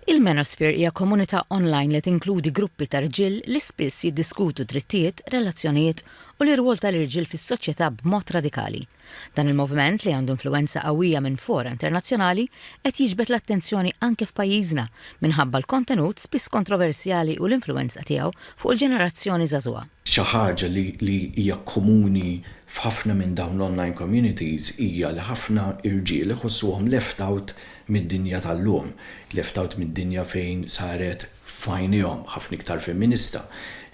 Il-Manosphere hija komunità online li tinkludi gruppi ta' rġiel li spiss jiddiskutu drittijiet, relazzjonijiet, u l-irwol tal-irġiel fis-soċjetà b'mod radikali. Dan il-moviment, li għandu influwenza qawwija minn fora internazzjonali, qed jiġbed l-attenzjoni anke f'pajjiżna minħabba l-kontenut spiss kontroversjali u l-influwenza tiegħu fuq il-ġenerazzjoni żagħżugħa. Xi ħaġa li hija komuni f'ħafna minn dawn l-online communities hija li ħafna irġiel iħossuhom left out mid-dinja tal-lum, left out mid-dinja fejn saret f'għajnejhom ħafna iktar femminista,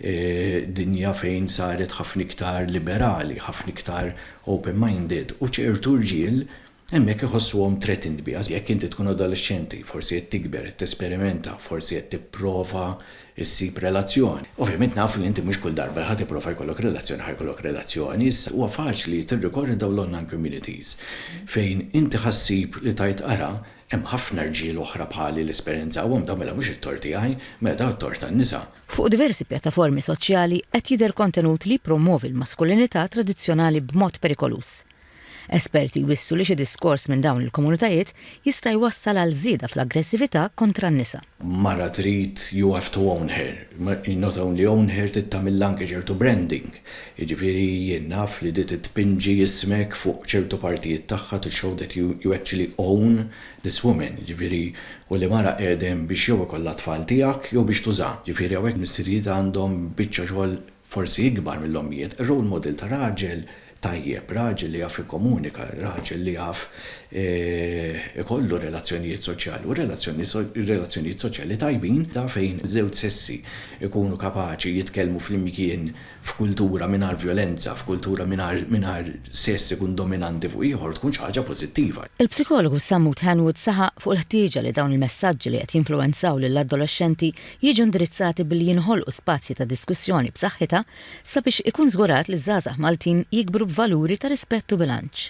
dinja fejn saret ħafna iktar liberali, ħafna iktar open-minded u ċertu rġiel Hemmhekk iħossuhom threatened biha. Jekk inti tkun adolexxenti, forsi qed tikber, qed tesperimenta, forsi qed tipprova ssib relazzjoni. Ovvjament nafu li inti mhux kull darba li ħa tipprova jkollok relazzjoni ħa jkollok relazzjoni. Issa, huwa faċli tirrikorri għal dawn l-online communities fejn inti ħa ssib li tgħid ara, hemm ħafna rġiel oħra bħali li esperjenzawhom dawn mela mhux it-tort tiegħi, mela dawn it-tort tan-nisa. Fuq diversi pjattaformi soċjali qed jidher kontenut li jippromwovi l-maskulinità tradizzjonali b'mod perikoluż. Esperti jwissu li xi diskors minn dawn il-komunitajiet jista' jwassal għal żieda fl-aggressività kontra n-nisa. Mara trid you have to own her, not only own her trid tagħmilha anke ċertu branding, jiġifieri jien naf li di titpinġi ismek fuq ċertu partijiet tagħha to show that you you actually own this woman, jiġifieri u li mara qiegħda hemm biex jew ikollha t-tfal tiegħek jew biex tuża. Jiġifieri hawnhekk missirijiet għandhom biċċa xogħol forsi ikbar mill-ommijiet, role model ta' raġel tajjeb, raġel li jaf jikkomunika, raġel li jaf ikollu relazzjonijiet soċjali u relazzjonijiet soċjali tajbin ta' fejn iż-żewġ sessi jkunu kapaċi jitkellmu flimkien f'kultura mingħajr vjolenza, f'kultura mingħajr sess ikun dominanti fuq ieħor tkun xi ħaġa pożittiva. Il-psikologu Sammut Hanwood saħaq fuq il-ħtieġa li dawn il-messaġġi li qed jinfluwenzaw lill-adolexxenti jiġu indirizzati billi jinħolqu spazji ta' diskussjoni b'saħħitha sabiex ikun żgurat li ż-żgħażagħ Maltin jikbru b'valuri ta' rispett u bilanċ.